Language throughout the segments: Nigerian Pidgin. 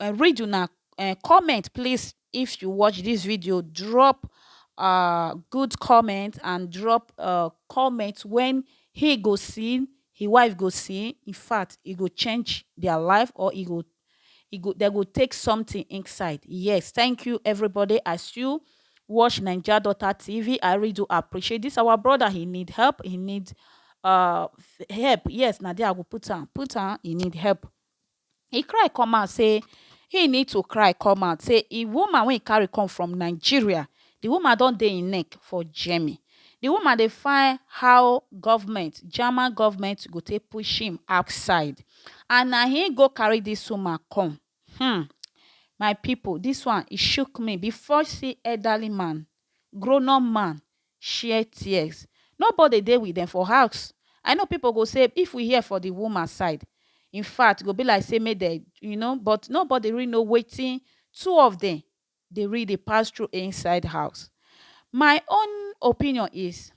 uh, read una uh, comment please if you watch this video drop uh, good comment and drop uh, comment when he go see his wife go see in fact he go change their life or he go he go they go take something inside yes thank you everybody as you watch Ninja Daughter TV. I really do appreciate this. Our brother, he need help. He need uh help. Yes, Nadia, I will put on. Put on. He need help. e cry come out say e need to cry come out say e woman wey e carry come from Nigeria the woman don dey him neck for Germany the woman dey find how government German government go take push him outside and na him go carry this woman come hmm my people this one e shook me before see elderly man Grownup man share tears Nobody dey with dem for house I know people go say if we hear for the woman side Infact e go be like say make dem you know But nobody really know wetin two of dem dey really dey pass through inside house My own opinion is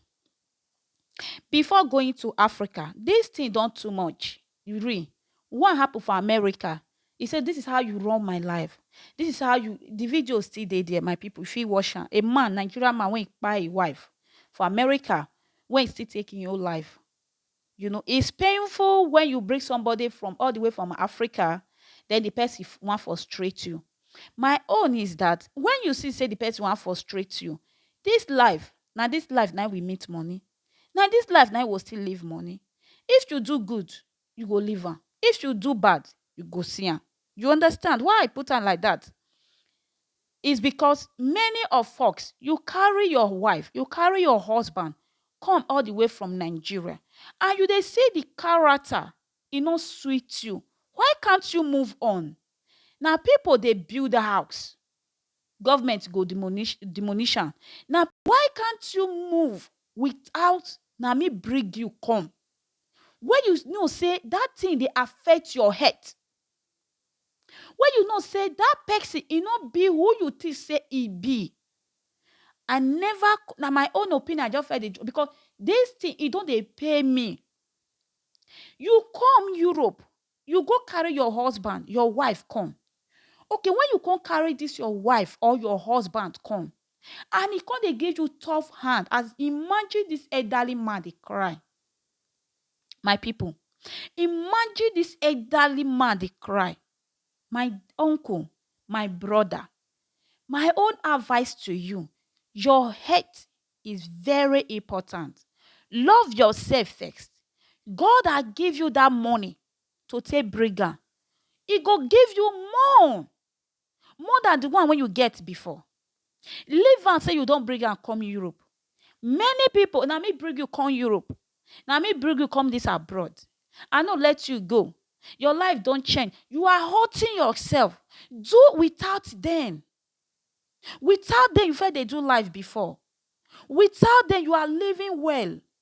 Before going to Africa, dis thing don too much re one happen for America e say this is how you run my life this is how you the video still dey there my people you fit watch am a man Nigerian man wey kpai him wife for America wey still take him own life You know it's painful when you bring somebody from all the way from Africa then the person wan frustrate you. My own is that when you see say the person wan frustrate you, this life na this life na we meet money, na this life na we still leave money. If you do good, you go leave am. If you do bad, you go see am. You understand why I put am like that? Is bikos many of foks yu karry yor wife, yu karry yor husband kom all di way from Nigeria and yu dey si di karata e no sweet yu, why kant yu move on? Na pipol dey build house, govment go demonish demonish am, na. Why kant yu move without na mi brig yu kom, wey yu know sey dat tin dey affect yor health? Wey you know say dat pesin e no be who you think say e be. I never, na my own opinion I just first dey drop because dis thing e don dey pain me. You come Europe, you go carry your husband, your wife come. Okay, when you come carry dis your wife or your husband come and e come dey give you tough hand as, imagine dis elderly man dey cry. my pipu imagine dis elderly man dey cry my uncle my brother my own advice to you your health is very important love yourself first God has give you that money to take bring am e go give you more more than the one wey you get before. Leave am say you don bring am come Europe. Many people, na me bring you come Europe. Na me bring you come this abroad. I no let you go. Your life don change. You are hurting yourself. Do without them. Without them, you first dey do life before. Without them, you are living well.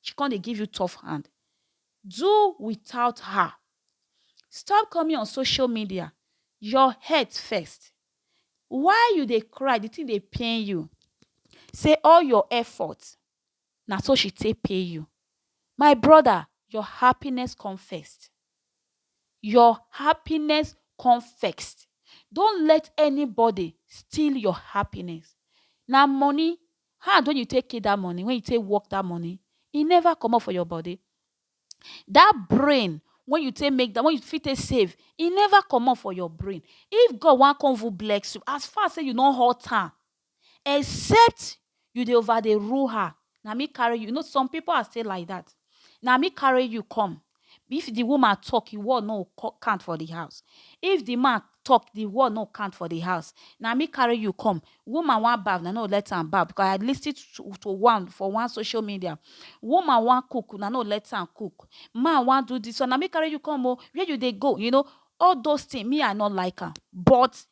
She come dey give you tough hand. Do without her. Stop coming on social media. Your health first. Why you dey cry? The thing dey pain you. Say all your effort na so she take pay you. My brother, your happiness come first. Your happiness come first. Don't let anybody steal your happiness. Na money Hand wey you take kill that money, wey you take work that money, e never comot for your body. That brain wey you take make that wey you fit take save, e never comot for your brain. If God wan come even bless you, as far sey you no hurt am, except you dey over dey rule her. Na me carry you. You know some pipu are still like that. Na me carry you come. If di woman tok, im word no go count for di house. If di man tok, di word no go count for di house. Na me carry you come. Woman wan baff, una no go let am baff because I lis ten to one for one social media. Woman wan cook, una no go let am cook. Man wan do dis one, na me carry you come o. Where you dey go? You know, all those tins, me I no like am. But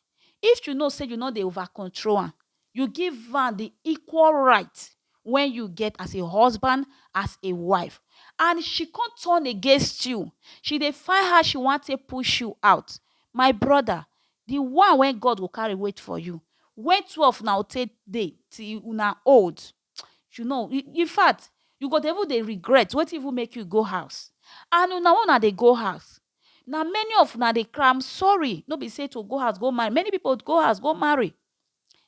if you know say you no dey over control am, You give am di equal right wey you get as a husband, as a wife and she come turn against you, she dey find how she wan take push you out, my broda di one wey God go carry wait for you. Wen two of una go take dey till una old, you know infact you go dey even dey regret wetin even make you go house and una wey una dey go house na many of una dey cry am sorry no be say to go house go marry many people go house go marry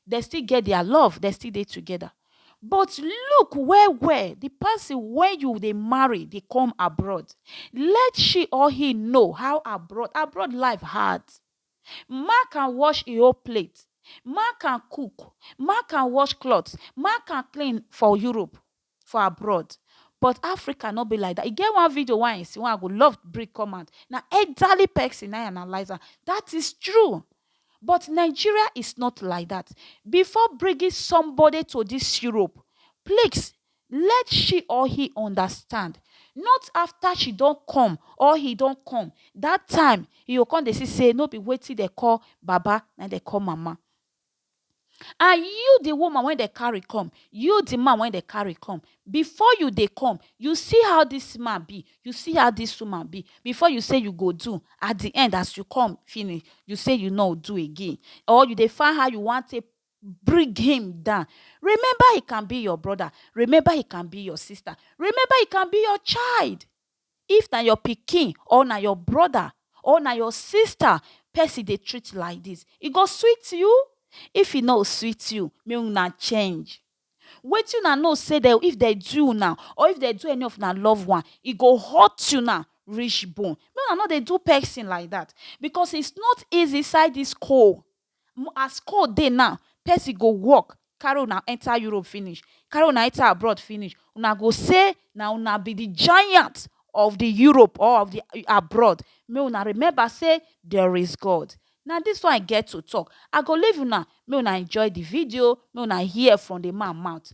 dey still get their love dey still dey together but look well well the person wey you dey marry dey come abroad let she or he know how abroad abroad life hard Ma can wash e own plate. Ma can cook. Ma can wash cloth. Ma can clean for Europe, for abroad. But Africa no be like dat. E get one video wey I see wey I go love bring come out. Na elderly pesin na im analyse am. Dat is true. But Nigeria is not like dat. Before bringing somebody to dis Europe, please Let she or he understand, not after she don come or he don come, that time he go come dey see say no be wetin dem call baba na im dem call mama. And you the woman wey dem carry come, you the man wey dem carry come, before you dey come, you see how this man be, you see how this woman be before you say you go do, at the end as you come finish, you say you no do again or you dey find how you wan take Bring him down. Remember he can be your brother. Remember he can be your sister. Remember he can be your child. If na your pikin or na your brother or na your sister person dey treat like this, e go sweet you? If e no sweet you, make una change. Wetin una know say dem if dem do una or if dem do any of una love one, e go hurt una reach bone. Make una no dey do person like that because it's not easy inside this cold As call dey now, person go work carry una enter Europe finish, carry una enter abroad finish, una go say na una be the giant of the Europe or of the abroad. Make una remember say there is God. Na this one I get to talk. I go leave una, make una enjoy the video, make una hear from the man mouth.